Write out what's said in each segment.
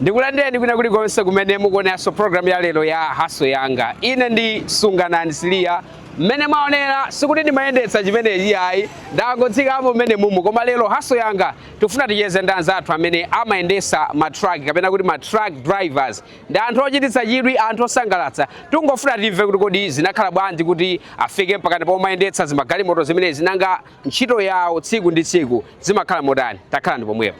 Ndikulandireni kwina kulikonse kumene mukuoneranso programu ya lero ya Hustle Yanga. Ine ndi Sunganani Siliya. Mmene mwaonera sikuti ndimayendetsa chimenechi ayi, ndangotsikamo mmene mumu. Koma lero Hustle Yanga tifuna ticheze ndi anzathu amene amayendetsa ma truck kapena kuti ma truck drivers. Ndi anthu ochititsa chidwi, anthu osangalatsa. Tungofuna timve kuti kodi zinakhala bwanji kuti afike mpakana pomayendetsa zimagalimoto zimenezi nanga ntchito yawo tsiku ndi tsiku zimakhala motani takhalani pomwepo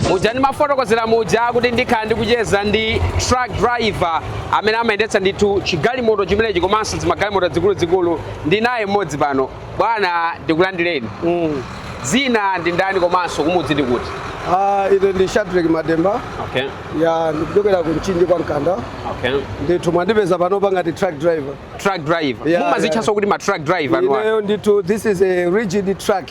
muja ndimafotokozera muja kuti ndikhala ndikucheza ndi truck driver amene amayendetsa ndithu chigalimoto chimenechi komanso zimagalimoto zikuluzikulu ndi ine ndili naye mmodzi pano bwana ndikulandireni Mm. dzina ndi ndani komanso kumudzi ndi kuti Ah, ine ndi Shadreck Matemba okay ya ndikuchokera ku Mchinji kwa Mkanda okay ndithu mwandipeza panopa ngati truck driver truck driver Yeah, mumazitchanso yeah. kuti ma truck driver no aka. ineyo ndithu this is a rigid truck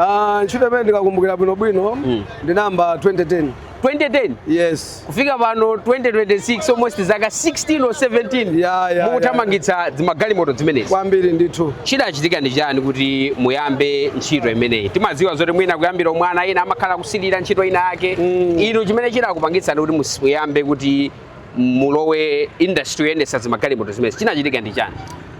Ah, ntchito imene ndikakumbukira bwinobwino Mm. ndinayamba 2010 2010 yes kufika pano 2026 almost zaka 16 or 17 Ya, ya, mukuthamangitsa zimagalimoto zimenezi kwambiri ndithu chidachitika ndi chani kuti muyambe ntchito imeneyi timadziwa zoti mwina kuyambira umwana ena amakhala akusilira ntchito ina yake Mm. inu chimene chidakupangitsani kuti mus- muyambe kuti mulowe industry yoyendetsa zimagalimoto zimenezi chinachitika ndi chani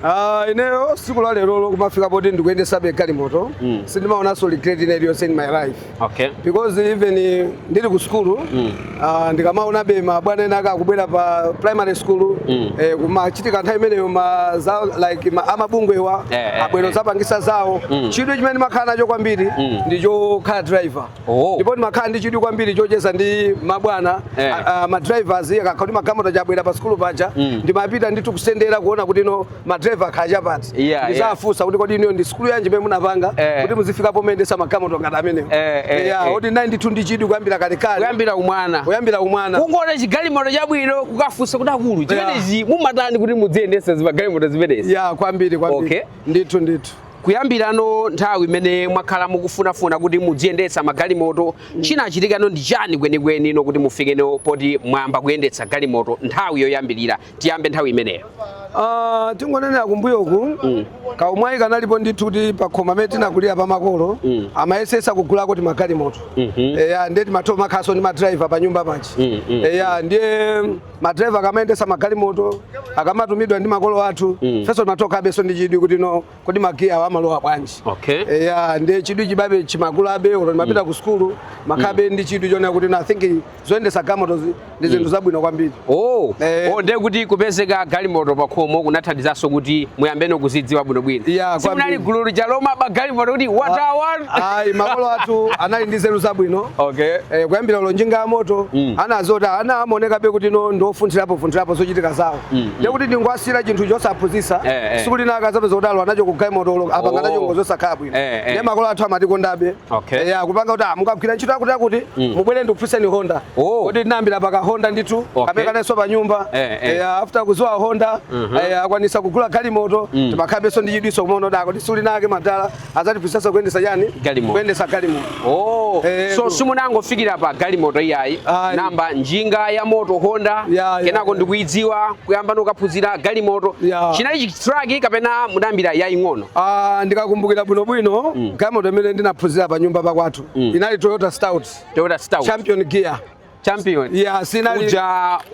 Ah, ineyo siku la lero kumafika poti ndikuyendesabe galimoto Mm. sindimaonanso regret ina iliyonse in my life okay because even eh, ndili ku sukulu Mm. ah, ndikamaonabe mabwana ena aka akubwera pa primary school Mm. eh, kumachitika nthawi imeneyo ma za like ma, amabungwewa Eh, eh, abwero eh. azapangisa zawo Mm. chidwi chimene ndimakhala nacho kwambiri Mm. ndichokhala driver Oh. ndipo ndimakhala ndi chidwi kwambiri chocheza ndi mabwana Eh. a- a- madrivers akakhala kuti magalimoto abwera pa sikulu paja Mm. ndimapita ndithu kusendera kuona kuti no madriver akhala chapati Yeah, ndizafunsa kuti kodi inuyo ndi sikulu yanji imene munapanga Eh. kuti muzifika pomayendesa magalimoto ngati amenewo Eh, eh, Yeah, eh. ndinali ndithu ndi chidwi kuyambira kalekale kuyambira umwana kuyambira umwana kungoona chigalimoto chabwino kukafunsa kuti akulu chimenechi mumatani kuti mudziyendesa zimagalimoto zimenezi ya kwambiri kwambiri Okay. ndithu ndithu Kuyambirano nthawi imene mwakhala mukufunafuna kuti mudziyendetsa magalimoto, chinachitikano ndi chani kwenikwenino kuti mufikeno poti mwayamba kuyendetsa galimoto nthawi yoyambirira? Tiyambe nthawi imeneyo. Ah, tingonena kumbuyoku Mm. kaumwayi kanalipo ndithu kuti pakhomo pamene tinakulira pa makolo Mm. amayesesa kugulako timagalimoto Mhm. eya ndiye timatho kumakhalaso ndi madrayiva pa nyumba paja Mm, mm, eya ndiye madriver akamayendetsa magalimoto akamatumidwa ndi makolo athu mm. ifenso timangokhalabenso ndi chidwi kuti no kodi magiyawa amalowa bwanji okay. eya ndiye chidwi chijabe chimakulabe olo ndimapita mm. ku sukulu timakhalabe mm. ndi chidwi chonena kuti I think zoyendetsa galimoto ndi zinthu mm. zabwino kwambiri oh. eh. oh, ndiye kuti kupezeka galimoto pakhomo kunathandizanso kuti muyambeno kuzidziwa bwinobwino yeah, simunali gulu lija lomaba galimoto kuti wathawa ah, ayi makolo athu anali ndi nzeru zabwino okay eh, kuyambira olo njinga ya moto mm. anawa zoti amaonekabe kuti no ndi ofunthirapo funthirapo zochitika zawo mm, mm. ndiye kuti mm. ndingawasiyire chinthu chosaphunzitsa eh, eh. tsiku lina kudzapezeka kuti alowa nacho ku galimotoyo apanga nacho oh. ngozi zosakhala bwino eh, eh. ndiye makolo athu amatikondabe okay. eh, kupanga kuti ah, mukagwira ntchito yakuti yakuti mm. mubwere ndikuphunzitseni honda oh. kuti tinayambira pa ka honda ndithu okay. kamene kanalinso pa nyumba eh, eh. Eh, after kuziwa honda mm -hmm. eh, atakwanitsa kugula galimoto mm. timakhalabenso ndi chidwinso kumaona kuti akuti ah, tsiku linalake madala azatiphunzitsa kuyendetsa chani Galimoto. kuyendetsa galimoto Oh, Eh, so ku- simunangofikira pa galimoto iyayi Ayi. munayamba njinga ya moto honda Ya, ya, kenako ya. n'kuidziwa kuyambano kuphunzira galimoto Ya. chinali chitraki kapena mudayambira yaying'ono Ah, ndikakumbukira bwinobwino galimoto imene ndinaphunzira pa nyumba pakwathu inali toyota stout toyota stout column gear champion yeah, sina uja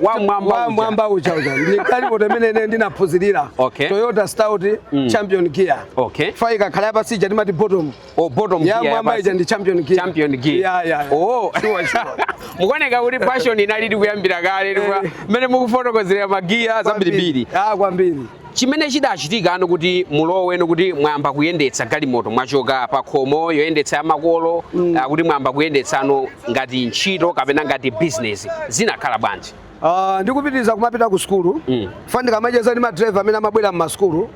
wa mwamba wa mwamba uja uja ni kali bote mene ne ndina puzilila okay. Toyota Stout mm. champion gear okay. Fai ka kala basi jadi mati bottom oh bottom ya gear ya mwamba ija ndi champion gear champion gear yeah, yeah, yeah. oh sure sure mukone ka uri passion inali ndi kuyambira kale ndi eh. mene mukufotokozera ma gear zambiri biri ah kwambiri chimene chidachitikano kuti muloweno kuti mwayamba kuyendetsa galimoto mwachoka pa khomo yoyendetsa ya makolo mm. uh, kuti mwayamba kuyendetsano ngati ntchito kapena ngati bizinesi zinakhala bwanji uh, ndikupitiriza kumapita ku sukulu mm. chifukwa ndikamacheza ndi madriver amene amabwera mmasukulu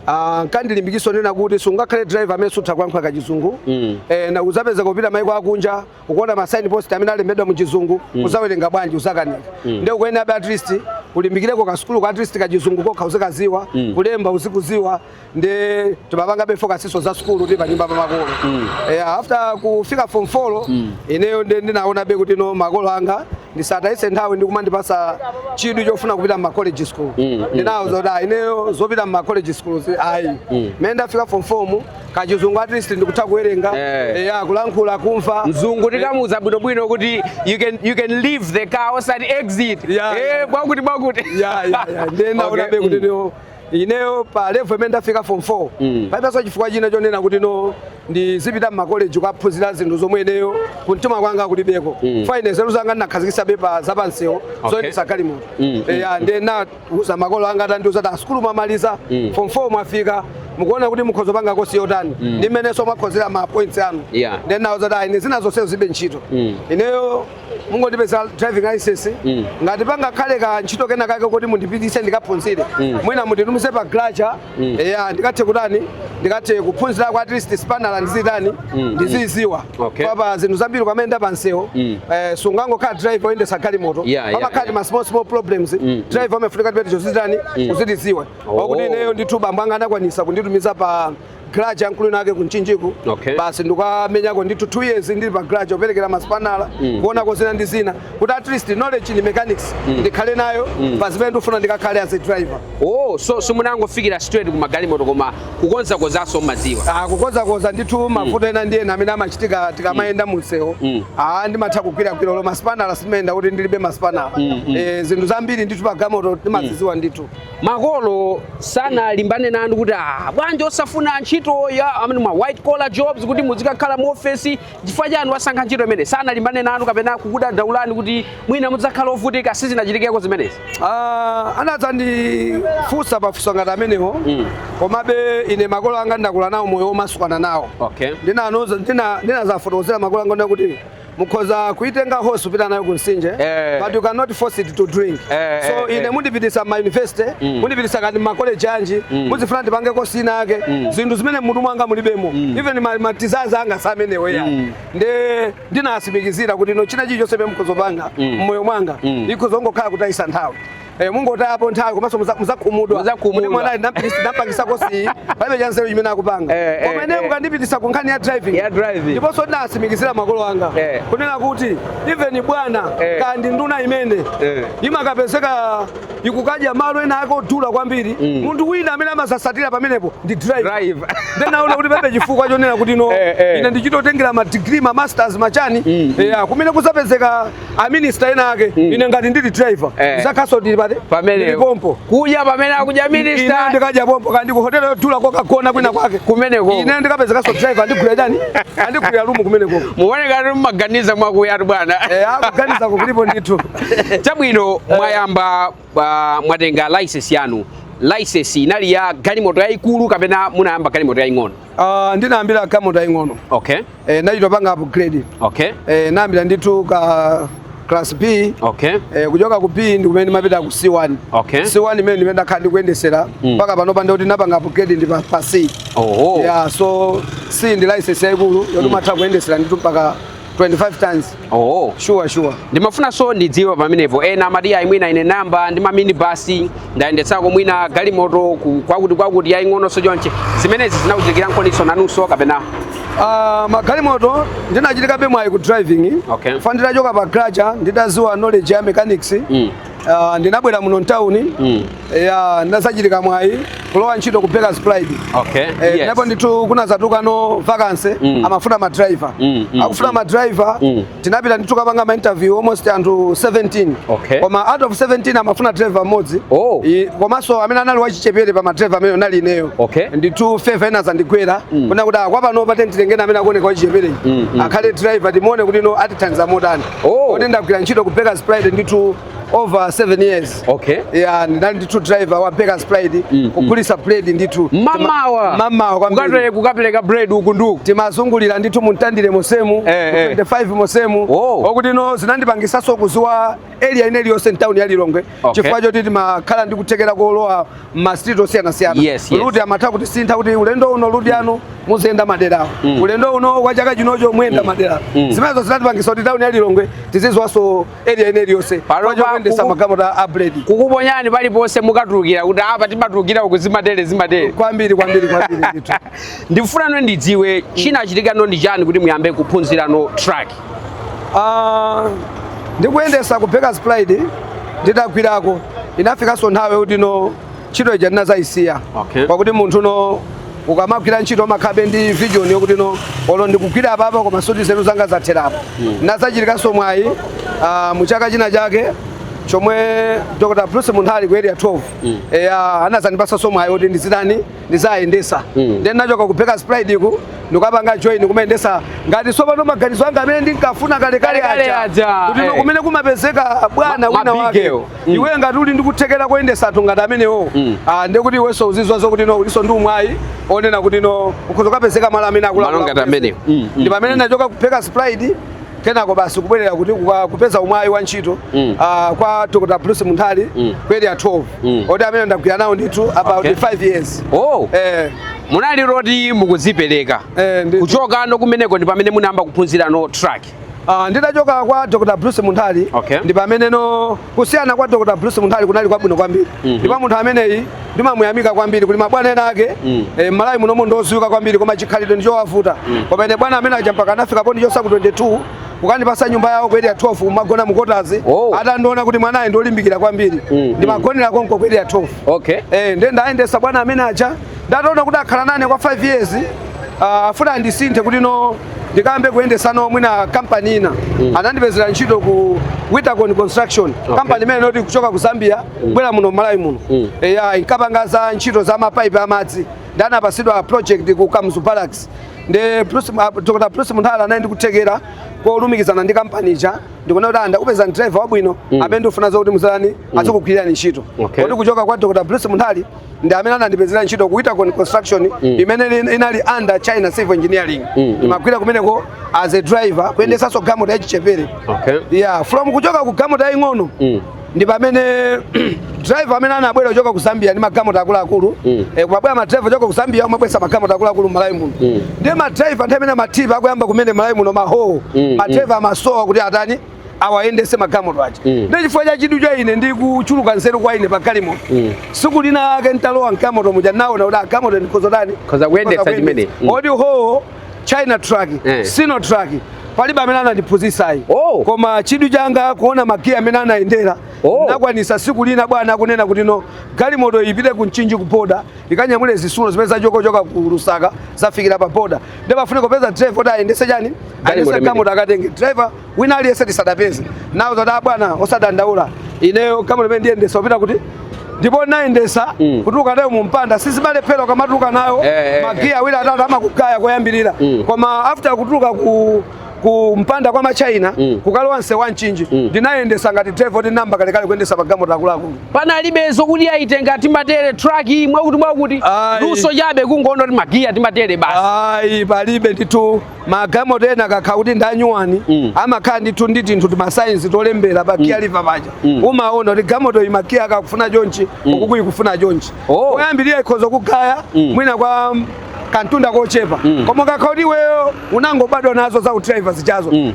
Ah, ankandilimbikitsa kunena kuti sungakhale driver amene sutha kuyankhula kachizungu mm. e, eh, ndiye uzapezeka ukupita maiko akunja ukuona ma sign post amene alembedwa mu chizungu mm. uzawerenga bwanji uzakanika mm. ndiye kuonabe at least ulimbikireko ka sukulu ka at least ka chizungu kokha uzikadziwa mm. kulemba uzikudziwa ndiye timapangabe focus nso za sukulu ndi panyumba pa makolo mm. yeah, after kufika form 4 mm. ineyo ndi ndinaonabe kuti no makolo anga ndisawatayitse nthawi ndi kumandipatsa chidwi chofuna kupita mma college school mm. ndinawauza mm. zoti ineyo zopita mma college school ayi mm. mene ndafika form 4 kachizungu at least ndikutha kuwerenga Eh. eya kulankhula kumva mzungu ndikamuuza bwinobwino kuti you can, you can leave the car outside exit Yeah, Eh, yeah. bwakuti bwakuti ya ya ya ndiye ndina Okay, onabe kuti mm. no ineyo pa level imene ndafika form 4 Mm. palibenso chifukwa china chonena kuti no ndizipita mmakoleji kukaphunzira zinthu zomwe ineyo kumtima kwanga kulibeko Mm. fine nzeru zanga ndinakhazikitsabe pa zapamsewu Okay. zoyendetsa galimoto Mm, mm, ya ndena uza makolo anga atandiuza kuti a sukulu mwamaliza mm. form 4 mwafika mukuona kuti mukhoza kupanga kosi yotani mm. ndi mmenenso mwakhozera ma points anu yeah. ndiye ndinawauza kuti ine zina zonse zilibe ntchito mm. ineyo mungondipezera driving license mm. ngati pangakhale ka ntchito kena kake koti mundipititse ndikaphunzire mm. mwina munditumize pa garaja mm. eya ndikathe kutani ndikathe kuphunzira kwa at least spanala ndizitani mm. ndiziziwa mm. okay. kapena zinthu zambiri kwamene nda pamsewo mm. eh, sungangokhala driver oyendesa galimoto yeah, yeah, pamakhala yeah. ma small small problems mm. mm. driver amafunika azizitani mm. uzitiziwa oh. wakuti ineyo ndithu bambo anga anakwanisa kunditumiza pa garage yaikulu inake ku Mchinjiko okay. basi ndikamenyako ndithu two years ndili pa garage kuperekera maspanala mm. kuonako zina ndi zina kuti at least knowledge in mechanics mm. ndikhale nayo mm. pa zimene ndikufuna ndikakhale as a driver oh so simunangofikira straight ku magalimoto koma kukonzakonzaso mmadziwa ah kukonzakonza ndithu mm. mavuto ena ndi ena amene amachitika tikamayenda mu msewu ah ndimatha kugwiragwirako maspanala simayenda kuti ndilibe maspanala eh zinthu zambiri ndithu pa galimoto ndimaziziwa ndithu makolo sanalimbane nanu kuti ah bwanji osafuna ntchito ya amene ma white collar jobs kuti muzikakhala mu office chifukwa chani mwasankha ntchito imeneyi sanalimbane nanu kapena kukudandaulani kuti mwina mudzakhala ovutika sizinachitikeko zimenezi Ah, anadzandifunsa mafunso ngati amenewo Mm. komabe ine makolo anga ndakula nawo moyo womasukana nawo okay ndinaza ndina ndinazafotokozera makolo anga kuti mukhoza kuitenga horse kupita nayo ku mtsinje Eh. but you cannot force it to drink Eh, eh, so eh. ine mundipitisa ma university Mm. mundipitisa kaya ndi ma college anji Mm. muzifuna ndipange kosi ina yake Mm. zinthu zimene mutu mwanga mulibemo Mm. even ma- matizazi anga samenewo ya Mm. ndiye ndinasimikizira kuti no china chilichonse chimene mukhozopanga Mm. mmoyo mwanga Mm. ikhozongokhala kutayisa nthawi Eh, mungotayapo nthawi komanso muza- muzakhumudwa Muzakhumudwa. kuti mwanayu ndinampitisa- ndinampangisa kosi palibe chanzeru chimene akupanga Eh, eh, koma ine eh. mukandipitisa ku nkhani ya driving Ya driving. ndiponso ndinasimikizira makolo anga Eh. kunena kuti even bwana eh. kaya ndi nduna imene eh. imakapezeka ikukadya malo ena ake odula kwambiri mm. munthu wina amene amatsatira pamenepo ndi driver nde naona kuti palibe chifukwa chonena kuti no eh, eh. ine ndichitotengera ma degree ma masters machani mm. yeah, mm. kumene kuzapezeka a minister ena ake mm. ine ngati ndili driver eh. ndizakhaso ndili pa table pamene pompo kuja pamene akudya minista ine ndikadya pompo kaya ndi ku hotelo yodula kokagona kwina kwake kumeneko ine ndikapezekanso driver andigwira chani andigwira rumu kumeneko mukuoneka kuti mumaganiza mwakuyatu bwana eh, ah kuganizako kulipo ndithu chabwino eh. mwayamba uh, mwatenga license yanu license inali ya galimoto yayikulu kapena munayamba galimoto yaying'ono uh, ndinayambira galimoto yaying'ono okay eh, nachitopanga upgrade okay. eh, nayambira ndithu ka class b okay. eh, kuchoka ku b ndi kumene ndimapita ku c1 okay. c1 imene ndimene ndakhala ndikuyendesera mm. mpaka mm. panopa ndekuti napanga upgrade ndi pa, pa c oh. yeah, so c ndi license yaikulu yoti mm. umatha kuyendesera ndithu mpaka 25 tons Oh, sure sure. Ndimafunanso ndidziwe pamenepo ena amati ayi mwina ine nayamba ndi maminibasi ndayendetsako mwina galimoto ku- kwakuti kwakuti yaying'ononso chonche zimenezi zinakuchitikiranikoniso nanunso kapena Ah, magalimoto ndinachitakobe mwayi ku driving Okay. chifukwa nditachoka pa graja nditaziwa knowledge ya mechanics Mm. Uh, ndinabwera muno mtawuni mm. ya ndinazachitika mwayi kulowa ntchito ku Bakers Pride okay. eh, yes. ndipo ndithu kunazatuluka no vacancy mm. amafuna ma driver mm, mm, akufuna mm. ma driver mm. tinapita ndithu kapanga ma interview almost anthu 17 okay. koma out of 17 amafuna driver mmodzi oh. komanso amene anali wachichepere pa ma driver amene anali ineyo okay. ndithu favor inazandigwera mm. kunena kuti kwapanopa tingotenga amene akuoneka wachichepere mm, mm. akhale driver timuone kuti no atithandiza motani Oh. Kuti ndagwira ntchito ku Bakers Pride ndithu over 7 years. Okay. Yeah, ndinali ndithu driver wa Bakers Pride mm, kugulisa mm. bread ndithu. Mamawa. Mamawa kwambiri. Ukatole kukapereka bread uku ndi uku. Timazungulira ndithu mu Mtandire monsemu. Eh, eh. 25 monsemu. Oh. Okuti no zinandipangisanso kuziwa area ina iliyonse m'town ya Lilongwe. Okay. chifukwa choti timakhala ndi kuthekera kolowa m'masitiriti osiyanasiyana Yes, yes. ruti amatha kutisintha kuti ulendo uno ruti anu muziyenda maderawo Mm. ulendo uno wa chaka chinocho muyenda maderawo Mm. zimenezo zinatipangisa kuti tauni ya lilongwe tiziziwanso area ina iliyonse Panopa kwachokuyendesa kuku- magalimoto a bredi akukuponyani paliponse mukatulukira kuti apa timatulukira uku zimatere zimatere kwambiri kwambiri kwambiri ndithu ndifuna no ndidziwe chinachitika no ndi chani kuti muyambe kuphunzira no track Ah, ndikuyendesa ku Bakers Pride nditagwirako inafikanso nthawi yoti no ntchito ija ndinazayisiya Okay. pakuti munthu no ukamagwira ntchito umakhabe ndi vision yokuti no olo ndikugwira apapa koma sikuti nzeru zanga zatherapo nazachitikanso mwayi ah, mu chaka china chake chomwe dr bruce munthali ku area 12 eya anazandipasanso mwayi woti ndizitani ndizayendesa mm. then nachoka ku Bakers Pride kuti ndikapange join kumayendesa ngati sopano maganizo anga amene ndinkafuna kalekale aja kuti eh. kumene kumapezeka bwana wina wake mm. iwe ngati uli ndikuthekera koyendesa anthu ngati amenewo mm. ah, ndiye kuti iwenso uzizwa zokuti no ulinso ndi umwayi onena kuti no ukhoza ukapezeka malo amene akuluakulu mm, mm. ndi pamene nachoka ku Bakers Pride kenako basi kubwerera kuti kuka- kupeza umwayi wa ntchito Mm. ah, kwa dr bruce munthali Mm. ku area 12 Mm. oti amene ndagwira nawo ndithu about Okay. 5 years oh eh, munali ndithu mukuzipereka eh, ndi- kuchoka no kumeneko ndi pamene munayamba kuphunzira no truck Ah, nditachoka kwa dr bruce munthali Okay. ndi pamene no kusiyana kwa dr bruce munthali kunali kwabwino kwambiri mm -hmm. ndipo munthu ameneyi ndimamuyamika kwambiri kuti mabwana ena ake mm. e, eh, m'Malawi munomo ndoziwika kwambiri koma chikhalidwe ndichowavuta mm. koma ine bwana amene aja mpaka anafika pondichosa ku 22 kukandipasa nyumba yawo ku area 12 kumagona mukotazi oh. atandiona kuti mwanayi ndolimbikira kwambiri mm. ndimagonera mm. konko ku area 12 okay. e, eh, nde ndayendesa bwana amene aja ndataona kuti akhala nane kwa 5 years ah, afuna andisinthe kuti no ndikayambe kuyendesano mwina kampani ina anandipezera ntchito ku witacon construction kampani imene inali kuchoka ku zambia kubwera muno malawi muno Mm. eya inkapanga za ntchito za mapaipi amadzi ndiye anapasidwa project ku kamuzu barracks ndi Bruce- ah, dr bruce munthali anali ndikuthekera kolumikizana ndi kampani ija ndikuona kuti ndakupezerani driver wabwino amene ndikufuna zokuti muzani azikugwirani ntchito Okay. kuti kuchoka kwa dr bruce munthali ndi amene anandipezera ntchito ku Witacon Construction mm. imene inali under China Civil Engineering mm, mm. ndimagwira kumeneko as a driver kuyendesanso mm. galimoto yachichepere okay. yeah, from kuchoka ku galimoto yaying'ono mm. ndi pamene driver amene anabwera kuchoka ku Zambia ndi magalimoto akuluakulu mm. e, kumabwera madriver kuchoka ku Zambia kumabwesa magalimoto akuluakulu Malawi muno mm. ndiye madriver nthawi imene matipa akuyamba kumene Malawi muno mahowo mm, madriver mm. amasowa kuti atani awayendese magalimoto aja mm. ndiye chifukwa cha chidwi cha ine ndi kuchuluka nzeru kwa ine pa galimoto mm. siku linalake ntalowa mgalimoto muja naona kuti a galimoto ndikhoza kutani ndikhoza kuyendesa imeneyi mm. ndi howo china truck mm. sino truck palibe amene anandiphunzisayi oh. koma chidwi changa kuona magiya mmene amayendera oh. nakwanisa siku lina bwana akunena kuti no galimoto ipite ku mchinji ku boda ikanyamule zisulo zimene zachoka kuchoka ku lusaka zafikira pa boda ndiye afune kupeza driver kuti ayendese chani ayendese galimoto akatenge driver wina aliyense tisadapeze nawo zoti abwana osadandaula ineyo galimoto imene ndiyendesa upita kuti ndipo nayendesa mm. kutuluka nayo mumpanda sizimalephera ukamatuluka nayo eh, eh, eh. magiya awiri atatu amakugaya koyambirira mm. koma after kutuluka ku kumpanda kwa machina mm. kukalowa nseu wa mchinji mm. ndinayendesa ngati driver ndinayamba kalekale kuyendesa magalimoto akuluakulu panalibe zokuti ayi tenga timatere truck mwakuti mwakuti luso chabe kungoona kuti magiya timatere basi ayi palibe ndithu magalimoto ena akakhala kuti ndi anyuwani mm. amakhala ndithu ndi tinthu timasaini tolembera pa giya mm. liva paja mm. umaona kuti galimotoyi magiya akewa akufuna chonchi mm. uku ikufuna chonchi oh. koyambirira ukhoza kugaya mm. mwina kwa kantunda kochepa mm. koma kakhala kuti iweyo unangobadwa nazo za udraiva zijazo mm.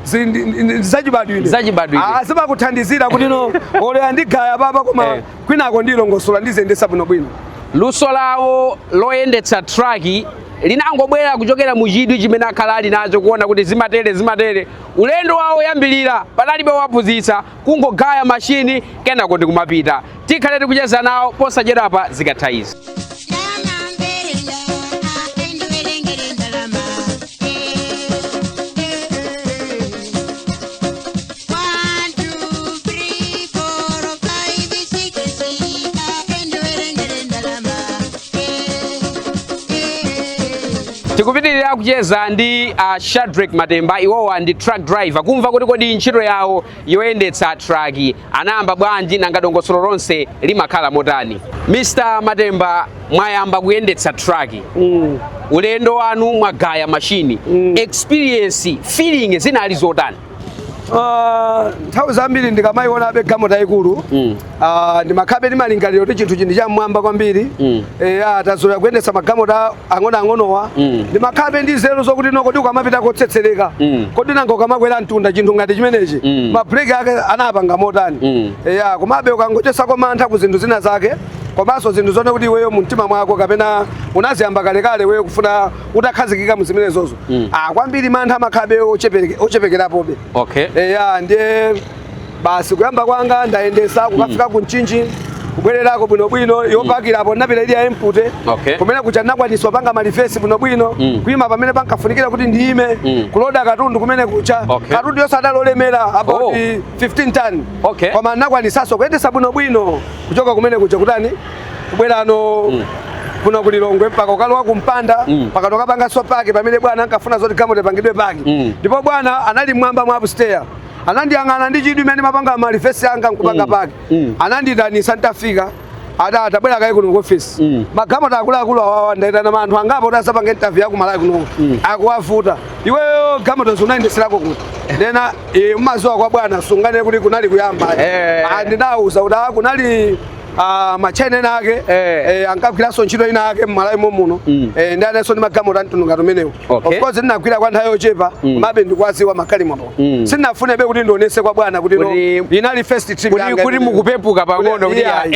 zachibadwire zachibadwire ah, zimakuthandizira kuti no olo ndigaya apapa koma eh. kwinako ndilongosola ndiziyendesa bwinobwino luso lawo loyendetsa traki linangobwera kuchokera mu chidwi chimene akhala ali nacho kuona kuti zimatere zimatere ulendo wawo oyambirira panalibe waphunzitsa kungogaya mashini kenako ndi kumapita tikhale tikucheza nawo posachedwapa zikatha izi tikupitirira kucheza ndi a Shadrack Matemba iwowa ndi truck driver kumva kuti kodi ntchito yawo yoyendetsa truck anayamba bwanji nanga dongosolo lonse limakhala motani Mr. Matemba mwayamba kuyendetsa truck mm. ulendo wanu mwagaya mashini mm. experience feeling zinali zotani Ah, nthawi zambiri ndikamayionabe galimoto yaikulu mm. ah, ndimakhalabe ndi malingaliro kuti chinthuchi ndi cham'mwamba kwambiri mm. eya ah, tazolowera kuyendetsa magalimoto ang'onoang'onowa mm. ndimakhalabe ndi nzeru zokuti no kodi ukamapita kotsetsereka mm. kodi nanga ukamakwera mtunda chinthu ngati chimenechi mm. mabreak ake anapanga motani mm. eya komabe ukangochosako mantha ku zinthu zina zake komanso zinthu zonena kuti iweyo mumtima mwako kapena unaziyamba kalekale iweyo kufuna utakhazikika mu zimenezozo mm. ah, kwambiri mantha amakhalabe ochepekerapobe okay. eya ndiye basi kuyamba kwanga ndayendesa kukafika mm. ku Mchinji kubwererako bwinobwino mm. yopakirapo napita ili ya empty okay. kumene kuja ndinakwanisa kupanga ma reverse bwinobwino mm. kuima pamene pankafunikira kuti ndiime mm. kuloda katundu kumene kuja okay. katundu yonse adali olemera about oh. 15 ton okay. koma ndinakwanisaso kuyendesa bwinobwino kuchoka kumene kuja kutani kubwerano mm. kuno ku Lilongwe mpaka kukalowa kumpanda mm. mpaka mm. kukapangaso park pamene bwana ankafuna zoti galimoto ipangidwe park mm. ndipo mm. bwana anali m'mwamba mwa upstairs anandiyang'ana ndi chidwi mmene ndimapanga ma reverse anga nkupanga mm. park mm. anandiitanisa nditafika adati tabwera kaye kuno kuofisi mm. magalimoto akuluakulu awawa ndaitana anthu angapo kuti azapange interview yaku malawi kuno mm. akuwavuta iweyo galimotozi unayendeserako kuti ndena e, eh, umaziwa kwa bwana sunganene kuti kunali kuyamba eh. ndidawauza kuti ah, kunali ah, matchaina ena ake Eh. eh, ankagwiranso ntchito ina yake mmalawi momuno Mm. eh, ndiye analinso ndi magalimoto amtundu ngati umenewu Okay. of course ndinagwira kwa nthawi yochepa Mm. komabe ndikuwaziwa magalimoto Mm. sindinafunebe kuti ndionese kwa bwana kuti no, Kuti- inali first trip kuti- yanga kuti imeneyo. mukupepuka pang'ono kuti Yeah, ayi.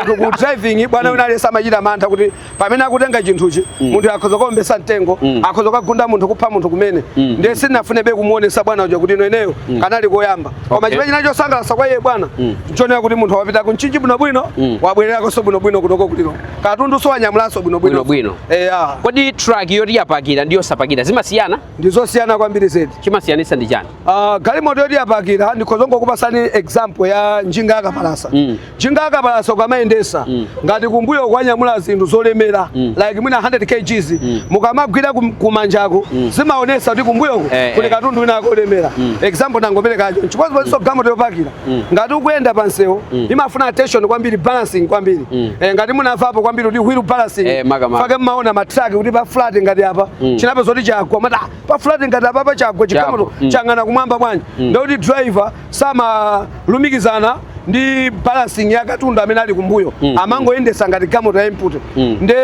kuti ku driving bwana wina aliyense amachita mantha kuti pamene akutenga chinthuchi mm. munthu akhoza kuombesa mtengo mm. akhoza kukagunda munthu kupha munthu kumene mm. ndiye sindinafunebe kumuonesa bwana uja kuti no ineyo mm. kanali koyamba koma okay. chimene chinali chosangalasa kwa iye bwana mm. nchonena kuti munthu wapita ku Mchinji bwinobwino mm. wabwererakonso bwinobwino kunoko ku Lilongwe katunduso wanyamulaso bwinobwino bwino eya kodi truck yoti yapakira ndi yosapakira zimasiyana ndi zosiyana kwambiri zedi chimasiyanisa ndi chani uh, galimoto yoti yapakira ndikhoza kungokupasani example ya njinga yakapalasa mm. Njinga yakapalasa ukamayendesa mm. ngati kumbuyo kwanyamula zinthu zolemera mm. like mwina 100 kgs mm. mukamagwira kumanjako mm. zimaonesa kuti kumbuyoko eh, eh. kuli eh. katundu winaake olemera mm. example tangoperekacho chikozi paziso mm. galimoto yopakira mm. ngati ukuyenda pa msewu mm. imafuna attention kwambiri balancing kwambiri mm. eh, ngati munamvapo kwambiri kuti wheel balancing eh, chifukwa chake mmaona matraki kuti pa flat ngati apa mm. chinapezeka kuti chagwa mmati pa flat ngati apapa chagwa chigalimoto mm. chayang'ana kumwamba bwanji mm. ndikuti driver samalumikizana ndi balancing ya katundu amene ali kumbuyo mm. amangoyendetsa ngati galimoto ya empty mm. nde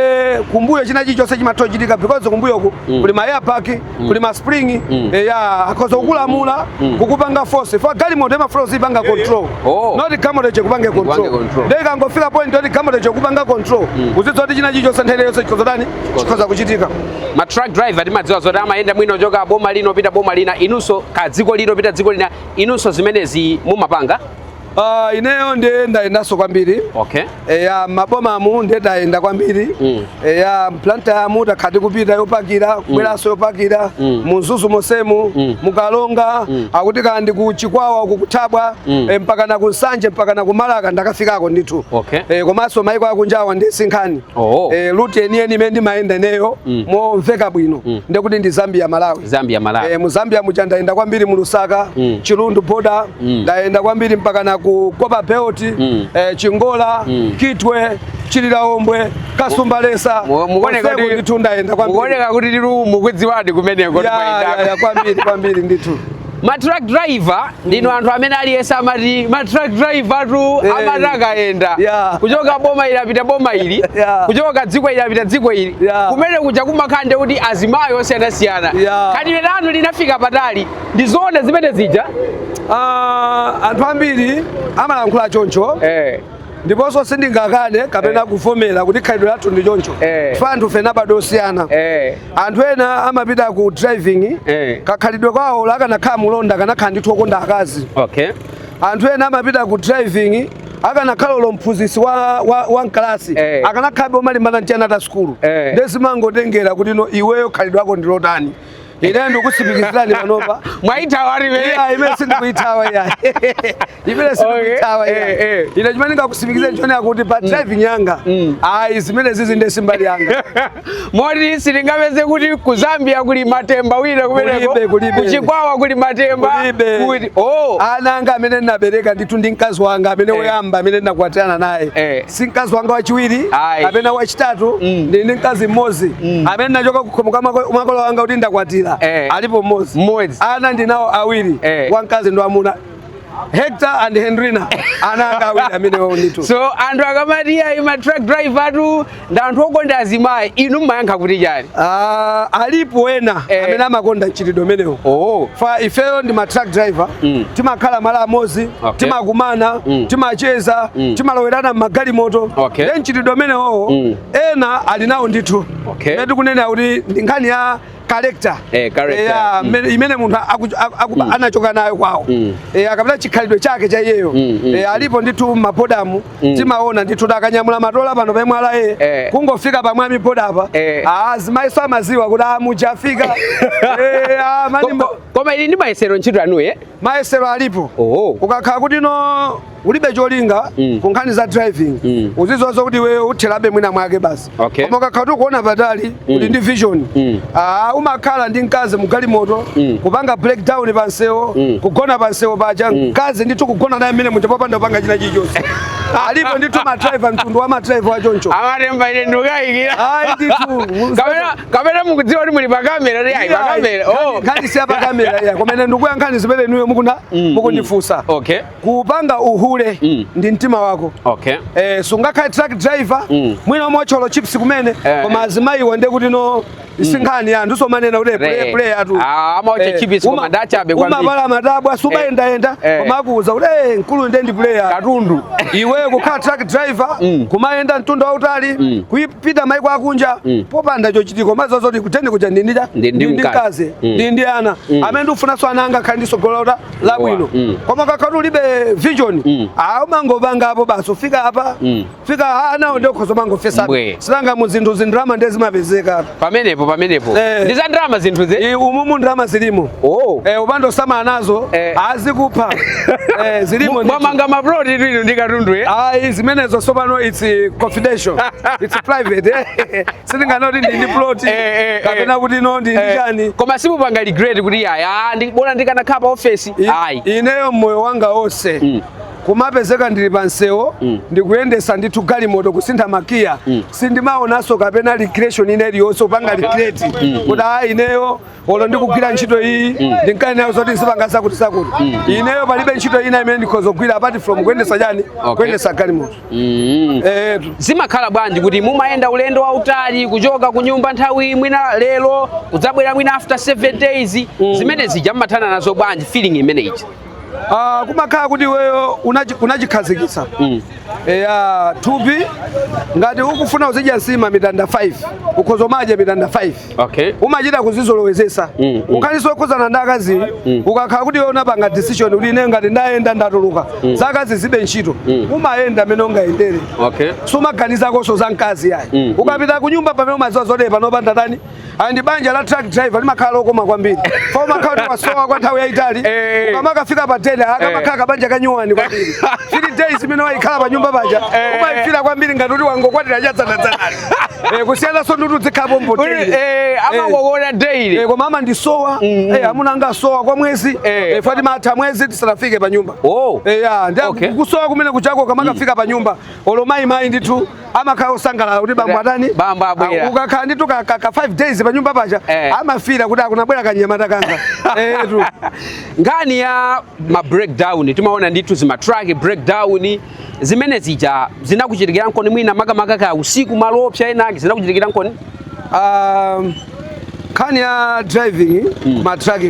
kumbuyo china chilichonse chimatha kuchitika because kumbuyoku mm. kuli ma air bag mm. kuli ma spring mm. e, yakhoza kukulamula mm. kukupanga force fa galimoto imafuna uzipanga control oh. not galimotoyo ikupange control nde ikangofika point yoti galimoto ikukupanga control mm. uzidziwa kuti china chilichonse nthawi yonse chikhoza kutani chikhoza kuchitika ma truck driver timadziwa zoti amayenda mwina kuchoka boma lina kupita boma lina mwinanso kudziko lina kupita dziko lina inunso zimenezi mumapanga Uh, ineyo ndiye ndayendanso kwambiri okay eya mabomamu ndiye ndayenda kwambiri Mm. eya m'Blantyremu takhala tikupita yopakira kubweranso yopakira Mm. mu Mzuzu monsemu Mm. mu Karonga Mm. akuti kaya ndi ku Chikwawa uku ku Thabwa Mm. eh, mpaka na ku Nsanje mpaka na ku Marka ndakafikako ndithu Okay. Eh, komanso maiko akunjawa nde si nkhani Oh. Eh, route yeniyeni imene ndimayenda ineyo mm. momveka bwino mm. nde kuti ndi Zambia Malawi Zambia Malawi eh, mu Zambia muja ndayenda kwambiri mu Lusaka mm. Chirundu border mm. ndayenda kwambiri mpaka na ku Copperbelt mm. eh, Chingola mm. Kitwe Chililabombwe Kasumbalesa mukuoneka kuti ndithu ndayenda kwambiri mukuoneka kuti dilu mukuidziwadi kumeneko ya, ya, ya, kwambiri kwambiri ndithu ma truck driver ndinu anthu amene aliyense amati ma truck driver-tu Eh. amati akayenda Yeah. kuchoka boma ili kupita boma ili Yeah. kuchoka dziko ili kupita dziko ili Yeah. kumenekuja kumakhala ndi kuti azimayi osiyanasiyana Yeah. khalidwe lanu linafika patali ndi zoona zimenezija Ah, anthu ambiri amalankhula choncho eh. ndiponso sindingakane kapena eh. kuvomera kuti khalidwe lathu ndi choncho eh. fa anthufe tinabadwa osiyana eh. anthu ena amapita ku driving kakhalidwe kawo olo akanakhala mulonda akanakhala ndithu okonda akazi anthu ena amapita ku driving akanakhala olo mphunzitsi wa, wa, wa mkalasi hey. Eh. akanakhala omalimbana ndi ana a sukulu hey. Eh. nde zimangotengera kuti no iweyo khalidwe lako ndi lotani ine ndikutsimikizirani panopa mwaithawa dala Yeah, imene sindikuithawa iya imene sindikuithawa Okay, eh, iya eh. ine chimene ndingakutsimikizireni n'chonena kuti pa driving yanga ayi zimenezizi nde si mbali yanga moti sitingapeze kuti ku Zambia kuli Matemba wina kumeneko Kulibe, kulibe. ku Chikwawa kuli Matemba Kulibe. kuti oh ana anga amene ndinabereka ndithu ndi mkazi wanga amene woyamba amene ndinakwatirana naye Eh. si mkazi wanga wachiwiri Ayi. kapena wachitatu Mm. ndili ndi mkazi mmodzi Mm. amene ndinachoka kukhomo kwa mako- makolo wanga kuti ndakwatira Eh. alipo mmodzi Mmodzi. ana ndinawo awiri Eh. wamkazi ndi wamwamuna Hector and Henrina ana anga awiri amenewawo ndithu so anthu akamati ayi ma truck driver-watu ndi anthu okonda azimayi inu mmayankha kuti chani Ah, alipo ena Eh. amene amakonda mchitidwe umenewo oh. fa ifeyo ndi ma truck driver Mm. timakhala malo amodzi okay. timakumana mm. timacheza mm. timalowerana mmagalimoto okay. nde mchitidwe umenewowo mm. ena ali nawo ndithu okay. nde tikunena kuti ndi nkhani ya character eh, character yeah, mm. imene munthu mm. anachoka nayo kwawo mm. eh, akapita chikhalidwe chake cha iyeyo mm, mm, eh, alipo ndithu mabodamu mm. timaona ndithu akanyamula matola pano pemwe ala eh, eh. kungofika pamwe amiboda apa eh. ah, azimayi amaziwa kuti amuja afika ah, eh, ah, koma ili ndi mayesero ntchito yanu eh? mayesero alipo Oho. ukakhala kuti no ulibe cholinga Mm. ku nkhani za driving Mm. uziziwa zoti iweyo utherabe mwina mwake basi Okay. koma ukakhala kuti ukuona patali uli ndi vision Mm. Ah, umakhala ndi mkazi mugalimoto Mm. kupanga breakdown pa msewu Mm. kugona pa msewu paja mkazi ndithu kugona naye mmene muja popanda kupanga china chilichonse alipo ndithu madriver mtundu wa madriver achoncho a Matemba ine ndikayikira ayi ndithu kapena kapena mukudziwa kuti muli pakamera ri ayi pakamera oh. nkhani si yapakamera ya koma ine ndikuyankhani zimene inuyo mukuna Mm, mm. mukundifunsa okay kupanga uhule Mm. ndi mtima wako okay eh, sungakhale truck driver Mm. mwina umaotcha olo chips kumene Eh, koma eh. azimayiwo nde kuti no sinkhani ya anthu somanena kuti Re. play play atu Ah, amaotcha Eh, chips koma uma- dacha abe kwambiri. umapala matabwa sumayendayenda Eh. koma akuuza kuti eh, mkulu nde ndi player katundu iwe kukhala truck driver Mm. kumayenda mtunda wautali Mm. kuyi- kupita maiko akunja mm. popanda chochitika komanso zoti kutende kuja ndi ndili ndi mkazi mm. ndili ndi ana mm. amene ndikufunanso ana anga akhale ndi tsogolo la labwino mm. koma ukakhala ulibe vision mm. umangopanga apo basi ufika apa mm. fika anawo nde ukhoza kumangofesa si tanena mu zinthu zindrama ndiye zimapezeka pamenepo pamenepo eh. ndi za ndrama zinthu ze umumu ndrama zilimo oh. eh, ukapanda kusamala nazo eh. azikupha Eh, zilimo ndithu. mwamanga maploti inu ndi katundu eh? ayi zimenezo sopano its confidential its private eh. sindinganene kuti ndili ndi plot Eh, eh, eh. kapena kuti no ndili ndi Eh, chani koma simupanga regret kuti ayi ah, ndi- bola ndikanakhala pa ofesi I- ayi ineyo mmoyo wanga onse Mm. kumapezeka ndili pa msewu Mm. ndikuyendesa ndithu galimoto kusintha magiya sindimaonanso kapena recreation ina iliyonse kupanga regret kuti ayi ineyo olo ndikugwira ntchito iyi mm. ndimkanenayo zoti ndizipanga zakutizakuti mm. ineyo palibe ntchito ina imene ndikhoza kugwira apart from kuyendesa chani kuyendesa galimoto mm. eh, zimakhala bwanji kuti mumayenda ulendo wautali kuchoka ku nyumba nthawi mwina lero kudzabwera mwina after 7 days zimene zija mmathana nazo bwanji feeling imeneyi Ah, kumakhala kuti iweyo unachi- unachikhazikitsa Mm. eya thupi ngati ukufuna uzidya nsima mitanda 5 ukhoza kumadya mitanda 5 Okay. umachita kuzizolowezesa Mm, mm. nkhaninso zokhuzana ndi akazi ukakhala kuti iwe unapanga decision kuti ine ngati ndayenda ndatuluka za akazi zilibe ntchito umayenda mmene ungayendere Okay. sumaganizakonso za mkazi yayi Mm, ukapita kunyumba pamene umaziwa zotere panopa ndatani and banja la truck driver limakhala lokoma kwambiri chifukwa umakhala kuti wasowa kwa nthawi yayitali Eh. ukamakafika pa den akamakhala kabanja kanyuwani kwambiri three days imene ukukhala pa nyumba paja Eh. umayifira kwambiri ngati kuti wangokwatira cha dzanadzanali Eh, kusiyananso ndi kuti udzikhala pompo Uli- daily. eh, amangokuona daily Eh, koma amandisowa eh, amuna anga asowa kwa mwezi Eh. eh, chifukwa timatha mwezi tisanafike pa nyumba Oh. Eh, ya, ndiye Okay. kusowa kumene kujako ukamakafika pa nyumba olo amayi mayi ndithu amakhala osangalala kuti bambo atani bambo abwera ah, ukakhala ndithu ka 5 days pa nyumba paja eh. amafira kuti ah kunabwera kanyamata kanga etu eh, nkhani ya ma breakdown timaona ndithu zima truck breakdown zimene zija zinakuchitikiraniko mwina makamaka ka usiku malo oopsa enake zinakuchitikiraniko um, nkhani ya driving mm. ma truck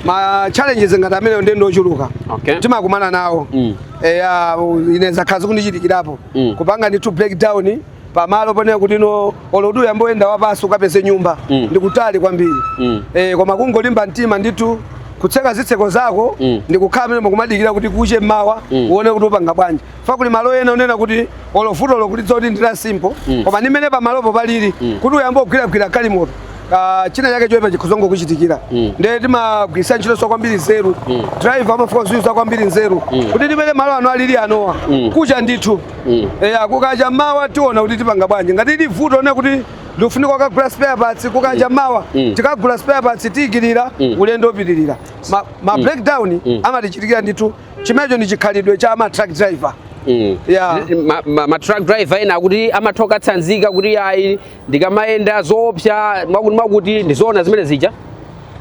ma challenges ngati amenewo ndi ochuluka okay. timakumana nawo mm. eya ine zakhala zikundichitikirapo mm. kupanga ndithu breakdown pamalo ponena kuti no olo kuti uyambe kuyenda wapansi ukapeze nyumba mm. ndikutali kwambiri mm. e, koma kungolimba mtima ndithu kutseka zitseko zako mm. ndi kukhala mmenemo kumadikira kuti kuche mmawa mm. uone kuti upanga bwanji chifukwa kuli malo ena onena kuti olo vuto ukulidziwa kuti ndi la simple mm. koma ndi mmene pamalopo palili mm. kuti uyambe kugwiragwira galimoto ah, china chake choipa chikhoza kungokuchitikira Mm. ndiye timagwiritsa ntchitoso kwambiri nzeru Mm. driver amafuna kuyuza kwambiri nzeru Mm. kuti ndi mmene malo ano alili anowo Mm. kuche ndithu Mm. eya kukacha mawa tiona kuti tipanga bwanji ngati ili vuto lonena kuti likufunika kukagula spare parts kukacha mawa Mm. tikagula spare parts tiyikira Mm. ulendo upitirira ma, ma breakdown Mm. amatichitikira ndithu chimenecho ndi chikhalidwe cha ma truck driver Mm. Yeah. Ma- ma- ma truck driver ena akuti amatha kukatsanzika kuti ayi ndikamayenda zoopsa mwakuti ndizoona zimene zija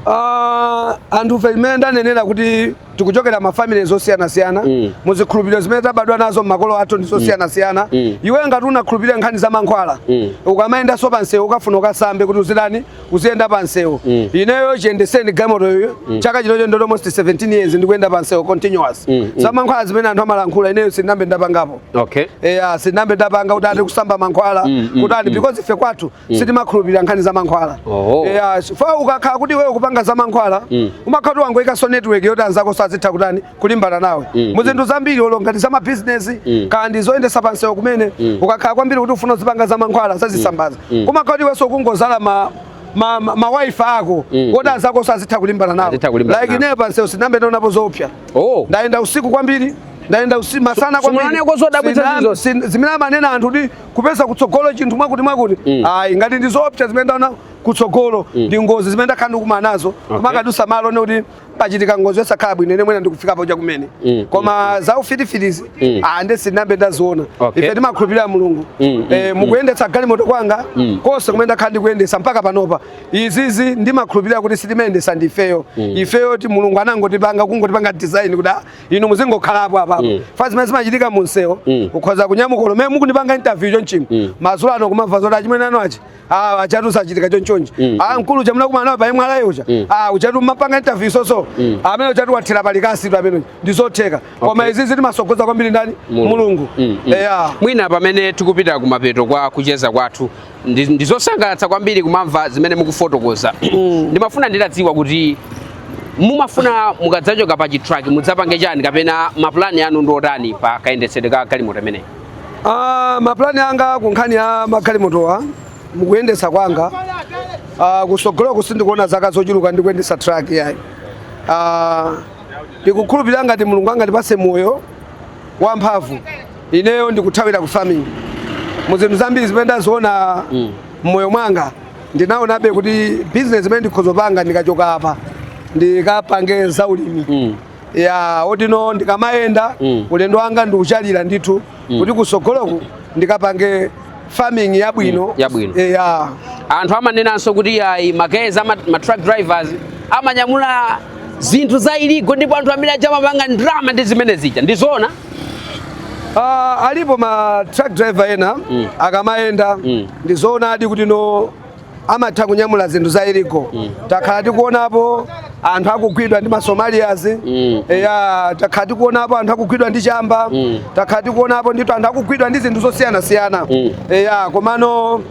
Uh, anthufe mmene ndanenera kuti tikuchokera mafamily zosiyanasiyana Mm. mu zikhulupiriro zimene tabadwa nazo mmakolo athu ndi zosiyanasiyana Mm. iwe ngati unakhulupirira nkhani za mankhwala Mm. ukamayendanso pa msewu ukufuna ukasambe kuti uzitani uziyenda pa msewu Mm. ineyo chiyendetsereni galimotoyo chaka chinocho ndi almost 17 years ndikuyenda pa msewu continuous Mm, mm. za mankhwala zimene anthu amalankhula ineyo sindinambe ndapangapo okay eya sindinambe ndapanga kuti ati kusamba mankhwala mm, mm, kuti ati mm. because ife kwathu mm. sitimakhulupirira nkhani za mankhwala oh. eya chifukwa ukakhala kuti iweyo ukupanga za mankhwala mm. umakhala kuti wangoikanso network yoti anzako azitha kutani kulimbana nawe mm, mu zinthu mm. zambiri olo ngati za mabizinesi mm. kaya ndi zoyendesa pamsewu kumene mm. ukakhala kwambiri kuti ufuna uzipanga za mankhwala za zitsambazi mm. mm. kumakhala kuti iwenso ukungodzala ma ma, ma, ma wifi ako mm. oti anzako azitha kulimbana nawe like ineyo pamsewu sindinambe ndaonapo zoopsa oh. ndayenda usiku kwambiri ndayenda usi- masana Su- sumunaneko zodabwitsa Sina- zizo. sin- zimene amanena anthu kuti kupeza kutsogolo chinthu mwakuti mwakuti Mm. ayi ngati ndi zoopsa zimene ndaona kutsogolo ndi ngozi zimene ndakhala ndikumana nazo kumakadusa malo nde kuti pachitika ngozi yosakhala bwino ine mwina ndikufikapo chakumene Mm, koma za ufitifitizi Mm. ah, nde sindinambe ndaziona Okay. ife timakhulupirira mulungu Mm, Eh, mu kuyendetsa galimoto kwanga Mm. konse kumene ndakhala ndikuyendesa mpaka panopa izizi ndimakhulupirira kuti sitimayendesa ndifeyo ifeyo ti mulungu anangotipanga kungotipanga design kuti ah, inu muzingokhalapo apapa Mm. fa zimene zimachitika mu msewu Mm. ukhoza kunyamuka lomwe mukundipanga interview chonchimo Mm. madzulo ano kumamva zoti achimene ano achi ah achatu sachitika chonchonji Mm. ah mkulu chamuna kumana nawo payimwe alayo uja Mm. ah uchatu mmapanga interview soso Mm. amene uchatu wathira palikasi tu amene ndizotheka koma Okay. izizi timasogoza kwambiri ndani mulungu Mm, mm. eya mwina pamene tikupita kumapeto kwa kucheza kwathu ndi- ndizosangalatsa kwambiri kumamva zimene mukufotokoza Mm. ndimafuna nditadziwa kuti mumafuna mukadzachoka pa chitraki mudzapange chani kapena mapulani anu ndi otani pa kayendetsedwe ka galimoto imeneyi Ah, mapulani anga ku nkhani ya magalimotowa mu kuyendetsa kwanga ah, kusogoloku sindikuona zaka zochuluka ndi kuyendetsa truck yayi Ah, ndikukhulupirira ngati mulungu angatipase moyo wamphamvu ineyo ndikuthawira ku farming mu zinthu zambiri zimene ndaziona mm. mmoyo mwanga ndinaonabe kuti business imene ndikhoza kupanga ndikachoka apa ndikapange za ulimi mm. ya oti no ndikamayenda mm. ulendo wanga ndikuchalira ndithu mm. kuti kusogoloku ndikapange farming yabwino mm, yabwino e, ya. anthu amanenanso kuti ayi makeza ma, ma truck drivers amanyamula zinthu za illegal ndipo anthu amene aja amapanga ndrama ndi zimene zija ndi zoona Uh, ah, alipo ma truck driver ena mm. akamayenda mm. ndizoonadi kuti no amatha kunyamula zinthu za illegal mm. takhala tikuonapo anthu akugwidwa ndi ma Somalians mm. eya takhala tikuonapo anthu akugwidwa ndi chamba mm. takhala tikuonapo ndithu anthu akugwidwa ndi zinthu zosiyanasiyana mm. eya komano uh,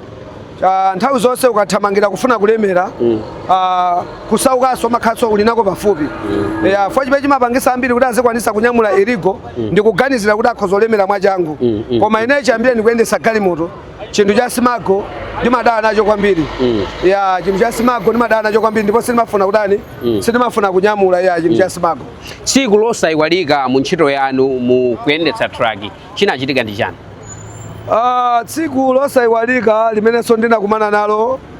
nthawi zonse ukathamangira kufuna kulemera mm. uh, kusaukanso umakhanso uli nako pafupi mm. eya fo chimene chimapangisa ambiri kuti azikwanisa kunyamula illegal mm. ndikuganizira kuti akhoza kulemera mwachangu mm. mm. koma ine chiyambireni kuyendesa galimoto chinthu cha smuggle ndimadana nacho kwambiri mm. ya chinthu cha smuggle ndimadana nacho kwambiri ndipo sindimafuna kutani mm. sindimafuna kunyamula ya chinthu mm. cha smuggle tsiku losayiwalika mu ntchito yanu mu kuyendetsa truck chinachitika ndi chani uh, tsiku losayiwalika limenenso ndinakumana nalo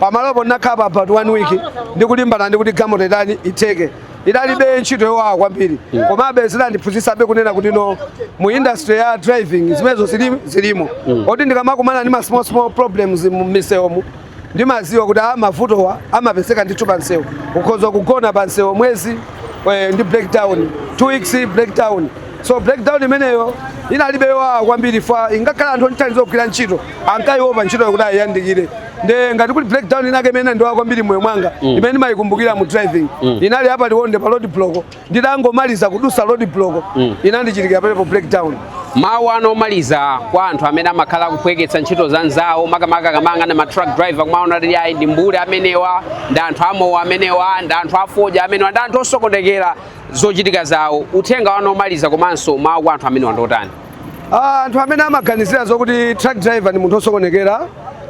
pamalopo ndinakhala pa about one week ndikulimbana ndi kuti galimoto itani itheke idalibi ntchito yowawa kwambiri mm. komabe zidandiphunzitsabe kunena kuti no mu industry ya driving zimenezo zilimo mm. oti ndikamakumana ndi ma small small problems mu misewomu ndimaziwa kuti a mavutowa amapezeka ndithu pa msewu ukhoza kugona pa msewu mwezi eh, ndi breakdown two weeks breakdown so breakdown imeneyo inalibe yowawa kwambiri fwa ingakhale anthu ondithandiza kugwira ntchito ankaiopa ntchitoyo kuti ayiyandikire nde ngati kuti breakdown inake imene inandiwawa kwambiri moyo mwanga mm. imene ndimayikumbukira mu driving mm. inali apa liwonde pa road block nditangomaliza kudusa road block mm. inandichitikira palepo breakdown mawu anu omaliza kwa anthu amene amakhala akuphweketsa ntchito za nzawo makamaka kamba ka matruck driver kumaona kuti ayi ndi mbuli amenewa ndi anthu amowa amenewa ndi anthu afodya amenewa ndi anthu osokonekera zochitika zawo uthenga wanu omaliza komanso mawu kwa anthu amenewa ndi otani Ah, anthu amene amaganizira zokuti truck driver ndi munthu osokonekera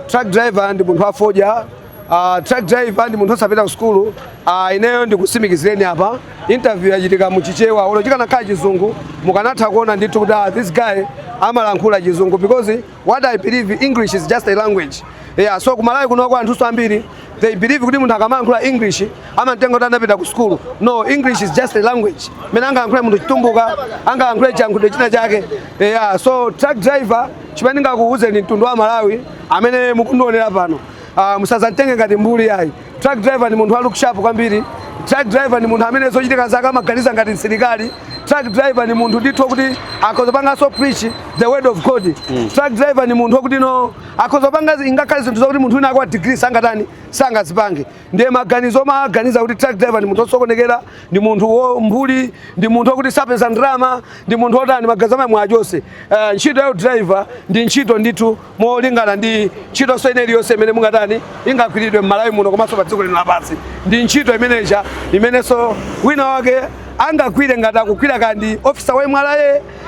truck driver ndi munthu afodya ah, truck driver ndi munthu osapita ku sukulu ah, ineyo ndikusimikizireni apa interview yachitika mu chichewa olo chikanakhala chizungu mukanatha kuona ndithu kuti ah, this guy amalankhula chizungu because what i believe english is just a language yeah so kumalawi kunoko anthu ambiri they believe kuti munthu akamalankhula english amamtenga kuti anapita ku sukulu no english is just a language mene angalankhule munthu chitumbuka angalankhule chiyankhulo china chake yeah so truck driver chimene ndingakuwuzeni mtundu wa malawi amene mukundionera pano uh, ah, musazamtenge ngati mbuli yayi Truck driver ndi munthu wa look sharp kwambiri. Truck driver ndi munthu amene zochitika zake amaganiza ngati msilikali. Truck driver ndi munthu ndithu kuti akhoza panganso preach the word of God. Mm. Truck driver ndi munthu kuti no akhoza panga ingakhale zinthu zakuti munthu wina akwa degree sangatani sangazipange. Ndiye maganizo omaganiza kuti truck driver ndi munthu osokonekera, ndi munthu wa umbuli, ndi munthu wakuti sapeza ndalama, ndi munthu otani maganizo amenewo achose. Uh, ntchito ya driver ndi ntchito ndithu molingana ndi ntchitonso ina iliyonse imene mungatani ingagwiridwe m'malawi muno komanso pa dziko lino lapansi ndi ntchito imenenso imenenso wina wake angagwire ngati akugwira kaya ndi ofisa wa mra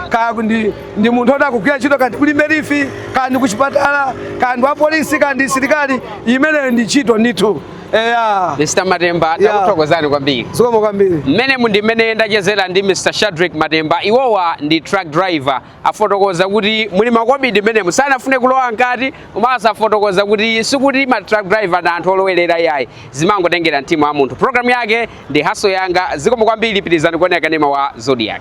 kaya ndi, ndi munthu oti akugwira ntchito kaya ndi ku limbe leaf kaya ndi kuchipatala kaya ndi wapolisi kaya ndi silikali imeneyo ndi ntchito ndithu eya Mr. Matemba Yeah. takuthokozani kwambiri zikomo kwambiri mmene munu ndimene ndachezera ndi Mr. Shadreck Matemba iwowa ndi truck driver afotokoza kuti muli makobidi mmenemo sanafune kulowa mkati komanso afotokoza kuti sikuti ma truck driver ndi anthu olowerera yayi zimangotengera mtima wa munthu programu yake ndi haso yanga zikomo kwambiri pitirizani kuonera kanema wa zodiak